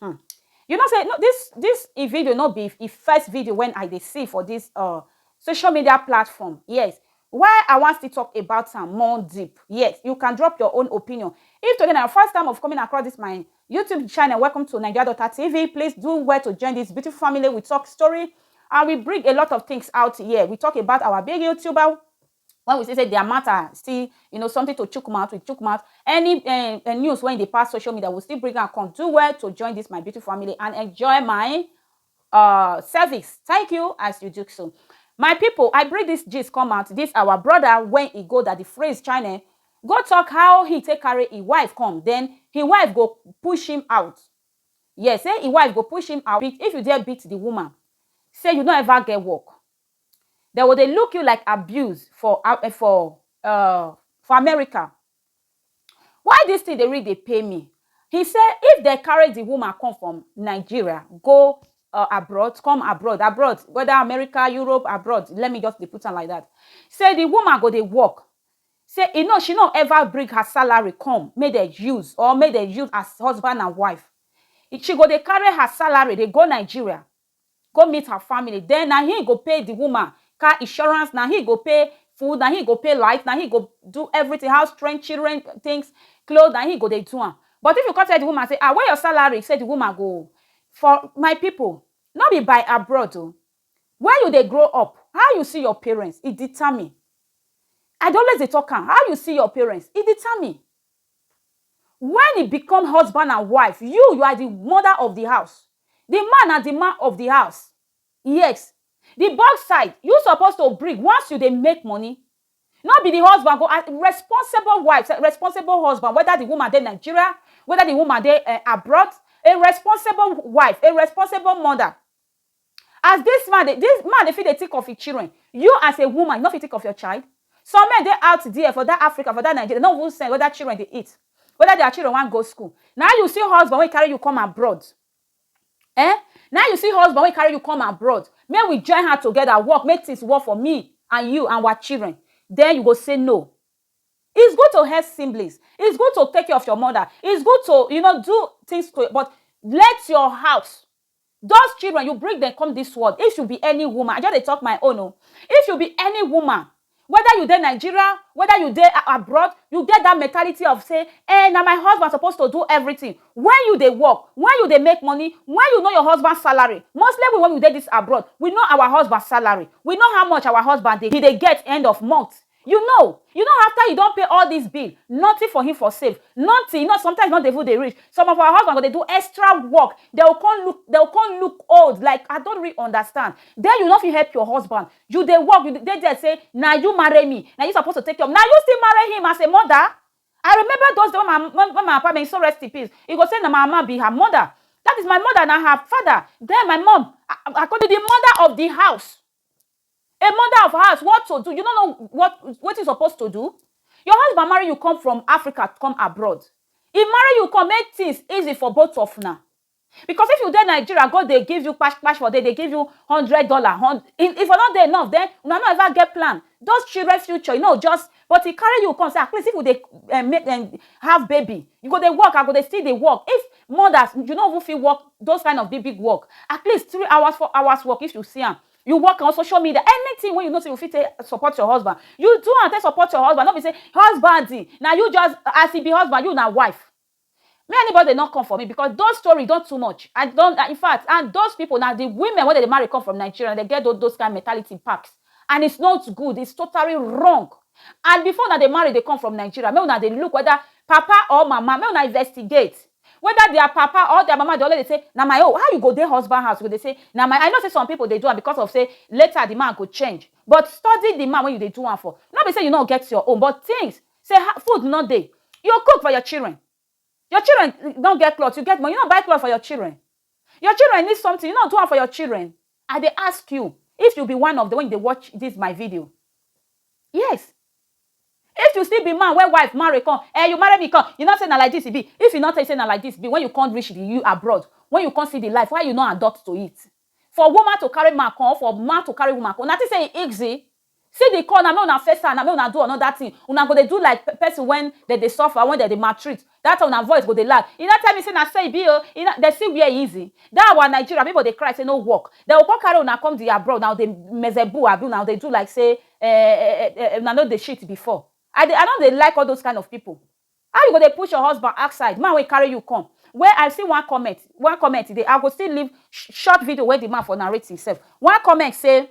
Hum you know say this this e video no be e first video wen I dey see for this uh social media platform yes why I wan still talk about am more deep yes you can drop your own opinion if today na your first time of coming across this my YouTube channel welcome to Naija Daughter TV please do well to join this beautiful family we talk story and we bring a lot of things out here we talk about our big YouTuber when we see say their matter still you know something to chook mouth with chook mouth any um, uh, news when they pass social media we still bring and come do well to join this my beautiful family and enjoy my uh service thank you as you do so my people i bring this gist come out this our brother when he go that the phrase china go talk how he take carry his wife come then his wife go push him out yes say his wife go push him out if you dare beat the woman say you no ever get work Dem go dey look you like abuse for for um for America. Why dis thing dey really dey pain me? He say if dem carry the woman come from Nigeria go um abroad, come abroad, abroad whether America, Europe, abroad, let me just dey put am like dat, say the woman go dey work, say e no, she no ever bring her salary come make dem use or make dem use as husband and wife. She go dey carry her salary dey go Nigeria go meet her family then na him go pay the woman car insurance na him go pay food na him go pay light na him go do everything house rent children things clothes na him go dey do am but if you come tell the woman say ah where your salary say the woman go for my people no be by abroad o where you dey grow up how you see your parents e determine I dey always dey talk am how you see your parents e determine When e become husband and wife, you you are the mother of the house, the man na the man of the house. Yes, the both side you suppose to bring once you dey make money. No be the husband go ask responsible wife sef, responsible husband whether the woman dey Nigeria, whether the woman dey um abroad, a responsible wife, a responsible mother As dis man dey dis man dey fit dey think of him children, you as a woman you no fit think of your child? Some men dey out there for dat Africa for dat Nigeria dem no even send whether children dey eat, whether their children wan go school. Na you see husband wey carry you come abroad um na you see husband wey carry you come abroad make we join hand together work make things work for me and you and our children den you go say no. It's good to help siblings, it's good to take care of your mother, it's good to you know do things to but let your house Those children you bring dem come this world if you be any woman I just dey talk my own o if you be any woman whether you dey Nigeria whether you dey abroad you get that mentality of say eh na my husband suppose to do everything when you dey work when you dey make money when you know your husband salary mostly we when we dey this abroad we know our husband salary we know how much our husband dey he dey get end of month You know you know after you don pay all this bill nothing for him for save nothing you know sometimes not even dey reach some of our husband go dey do extra work they will come look they will come look old like I don't really understand then you no fit help your husband you dey work you dey there say na you marry me na you suppose to take care of na you still marry him as a mother I remember those days when my when my papa may he so rest in peace he go say na my mama be her mother that is my mother na her father then my mom I I call the mother of the house. A mother of house what to do you no know what wetin you suppose to do your husband marry you come from Africa come abroad he marry you come make things easy for both of una because if you dey Nigeria go dey give you kpash kpash for there dey give you hundred dollar if e for no dey enough then una no ever get plan those children future e no just but he carry you come say at least if we dey um make um have baby you go dey work I go dey still dey work if mothers you no even fit work those kind of big big work at least three hours four hours work if you see am you work on social media anything when you know say you fit take support your husband you do and take support your husband no be say husband now you just as he be husband you now wife me anybody not come for me because those story don't too much i don't in fact and those people now the women when they marry come from nigeria they get those, those kind mentality packs and it's not good it's totally wrong and before now they marry they come from nigeria me now they look whether papa or mama me now investigate Weda dia papa or dia mama dey always dey say na my own, how you go dey husband house you go dey say na my own, I know say some pipo dey do am becos of say later di man go change but study di man wey you dey do am for, no be say you no get your own but tins say ha food no dey you cook for your children, your children no get cloth you get money you no buy cloth for your children. Your children need something, you no do am for your children? I dey ask you if you be one of the when you dey watch this my video. Yes. If you still be man where wife marry come, eh, you marry me come, you not say na like this e be. If you not tell you say na like this be, when you come reach the you abroad, when you come see the life, why you not adopt to it? For woman to carry man come, for man to carry woman come, una think say e easy? See the corner make una face am na make una do another thing una go dey do like person when dem dey suffer when dem dey maltreat that time una voice go dey loud e no tell me say na so e be oh e no dem see where e easy that our Nigeria people dey cry say no work dem go come carry una come the abroad una go dey mezeboo abi una go dey do like say eh una no dey shit before I dey I no dey like all those kind of people how you go dey push your husband outside man wey carry you come wey I see one comment one comment dey I go still leave short video wey the man for narrate himself one comment say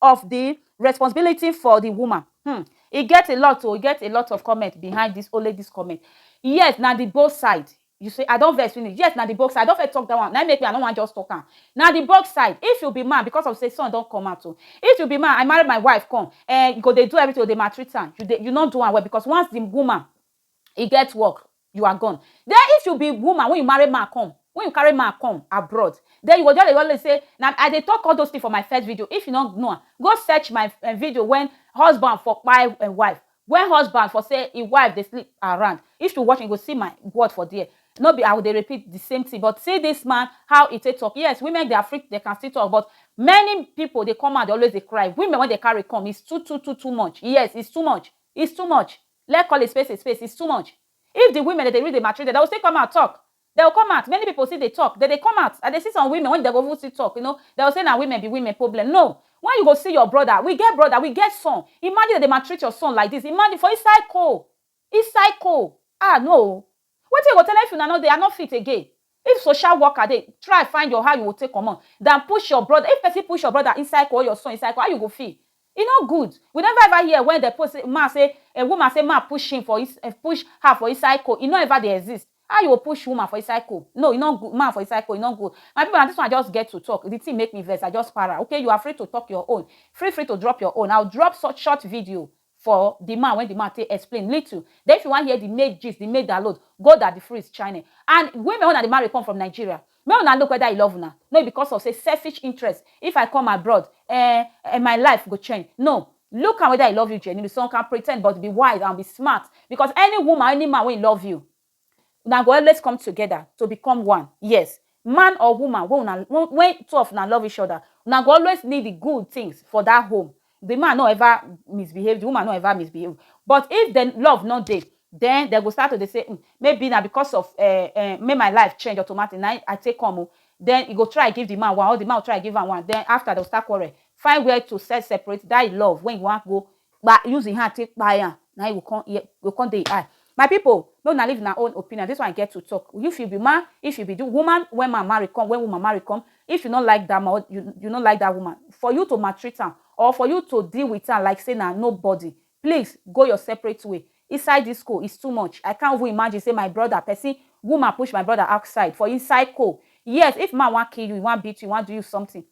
of the responsibility for the woman hmm e get a lot o e get a lot of comment behind this only this comment yes na the both side you say i don vex finish yes na the both side i don first talk that one na im make me i no wan just talk am na the both side if you be man because of say son don come out o if you be man i marry my wife come eh you go dey do everything you go dey maltreat am you dey you no do am well because once the woman e get work you are gone then if you be woman when you marry man come when you carry man come abroad then you go just dey always say na i dey talk all those things for my first video if you no know am go search my eh, video when husband for kpai eh, wife when husband for say him wife dey sleep around if you watch you go see my word for there no be i go dey repeat the same thing but see this man how he take talk yes women dey afraid they can still talk but many people dey come out dey always dey cry women when they carry come it's too too too too much yes it's too much it's too much Let call a space a space, it's too much. If the women that they really dey maltreated, they will still come out talk. They will come out, many people still dey talk, they dey come out. I dey see some women when they go even still talk, you know, they will say na women be women problem. No, when you go see your brother, we get brother, we get son, imagine they dey maltreat your son like this, imagine for inside coal, inside coal, ah no o, Wetin I go tell am if una no dey, I no fit again. If social worker dey, try find your how you go take comot than push your brother. If person push your brother inside court or your son inside court, how you go feel? E no good. We never ever hear when dem post say man say um woman say man push him for ins um push her for inside coal. E no ever dey exist. How you go push woman for inside coal? No, e no good, man for inside coal, e no good. My people, na this one I just get to talk. The thing make me vex, I just para. Okay, you are free to talk your own. Free free to drop your own. I will drop such short video for the man when the man take explain little then if you wan hear the main gist the main download go da the freeze channel and women wey una dey marry come from Nigeria make una look whether he love una no be because of say selfish interest if I come abroad eh eh my life go change no look am whether he love you genuinely some can pretend but be wise and be smart because any woman any man wey love you Una go always come together to become one. Yes, man or woman wey una wey two of una love each other, una go always need the good things for that home. The man no ever misbehave, the woman no ever misbehave. But if the love no dey, then dem go start to dey say, um maybe na because of um um make my life change automatic na im I take come o. Then e go try give the man one or the man go try give am one. Then after, dem go start quarrel, find where to first separate that im love wey e wan go kpa use im hand take kpai am na im go come hear go come dey im eye my people make una leave una own opinion this one I get to talk if you be man if you be the woman when man marry come when woman marry come if you no like that man or you you no like that woman for you to maltreat am or for you to deal with am like say na nobody please go your separate way inside this cold is too much I can't even imagine say my brother person woman push my brother outside for inside cold yes if man wan kill you he wan beat you he wan do you something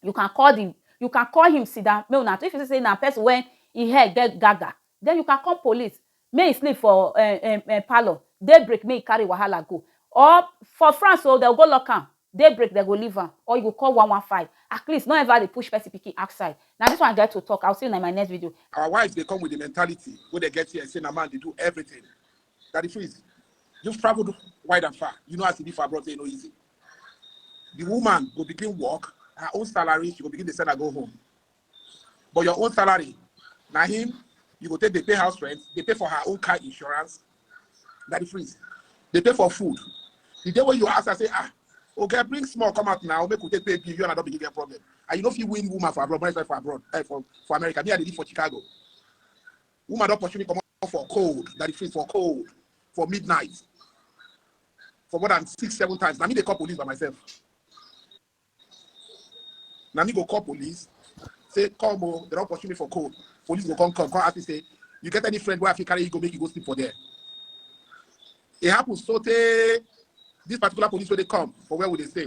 you can call the you can call him sit down make una if you see say na person wey him head get gaga then you can call police make he sleep for um um um parlour day break make he carry wahala go or for France o dem go lock am day break dem go leave am or you go call one one five at least no ever dey push person pikin outside na this one I get to talk I will see una in my next video. Our wives dey come with the mentality wey dem get here say na man dey do everything. Daddy Freeze, you've travelled wide and far, you know as e be for abroad say e no easy. the woman go begin work her own salary she go begin dey send her go home but your own salary na him you go take dey pay house rent dey pay for her own car insurance na the freeze dey pay for food the day wey you ask her say ah okay bring small come out now make we take pay bill you and i don begin get problem and you no fit win woman for abroad money for abroad eh, for for america me i dey live for chicago woman don pursue me comot. for cold that dey freeze for cold for midnight for more than six seven times na me dey call police by myself na me go call police say come o they don pursue me for cold police go come come come ask me say you get any friend wey i fit carry you go make you go sleep for there e happen so tey this particular police wey dey come for where we dey stay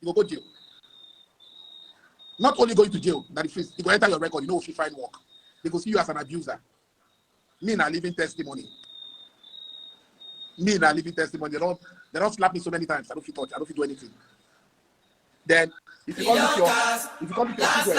you go go jail not only going to jail na the face you go enter your record you no go fit find work they go see you as an abuser me na living testimony me na living testimony they don they don slap me so many times i no fit touch i no fit do anything then if you come with your if you come with your children